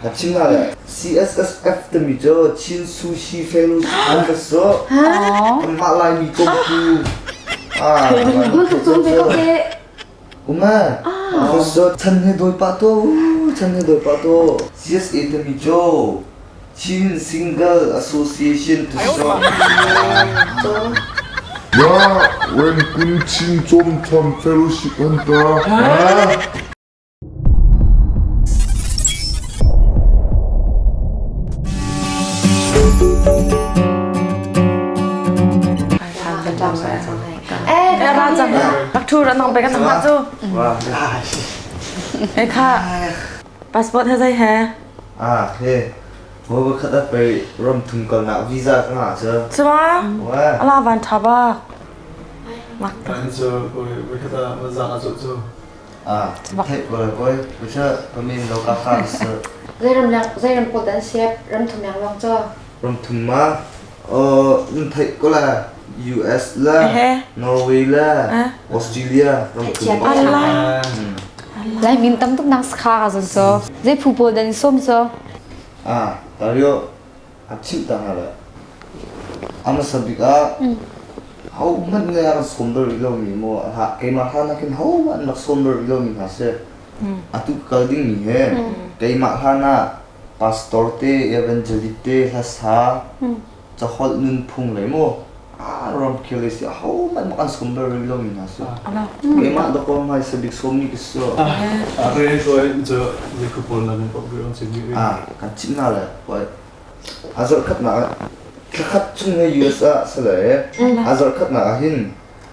Na China le CSSF timi cu Chin Sushi Fellowship Members cu anmah Laimi kongtu ah Google ka cawn ve ko teh. Um ah Because cu chan he dawi pah to chan he dawi pah to CSA timi cu Chin Single Association to Shop Ya Rengkun Chin Chom Chom Fellowship Anta Pakthur anong pek an mah cu. Wah, lai. He kha passport he zai he. Ah, he. Mo ba khat ap pai rom thum kal nak visa ka nga chu. Chuma. Wah. Ala van thaba. Nak. Kan chu, we kata mazaka chu chu. Zei ramkulh dah an siap? Ram thum yang lawng cu? Ram thum ma? Nan theih ko le US le Norway le Australia ramkulh Lai min tam tuk nang ska zan so. Zei phu pawl dan som so? Ah, tario a chimh ta hna lai. A hmasa bik ah, hohmanh nih a rak sawm bal rih lomi maw, keimah hla nakin hohmanh an rak sawm bal rih lomi hna si, atu kal dingmi he keimah hlan ah pastor te, evangelist te, hlasa, caholh nunphung le maw Ah, ramkhel i si ahohmanh mak an sawm bal rih lomi hna si. Keimah da kong hai sabik sawmmi ka si. Ah, re toi cu niku pawl nan pok bilang chin mi. Ah, kan chim na le hoi. A zarh khat na thla khat chung ne US ah sale a zarh khat na hin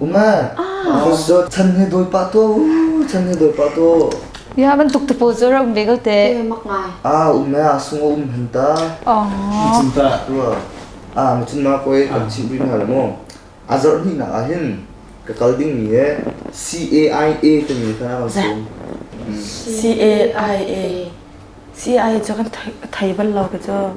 Uma, ahosi zo chan he doi pah to, chan he doi pah to. Ya bantuk te pawl zo ra um begel te. mak ngai. Ah um me asung um henta. Chin ta tua. Ah ma chin ma koi kan chin brin ha mo. Azar ni na ahin ka kal ding mi e C A I A te mi ta kan sum. C A I A. C I cho kan thai thai bal lo ke cho.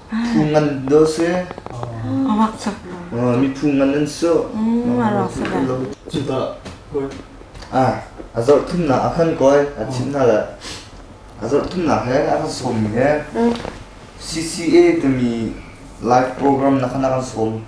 Phu ngan dawh si. A mak tuk. Mi phu ngan an si. Cuka ah a zarh thumnak a kan koi a thimnak le a zarh thumnak he a kan sawmmi he CCA timi live program na kan kan sawm.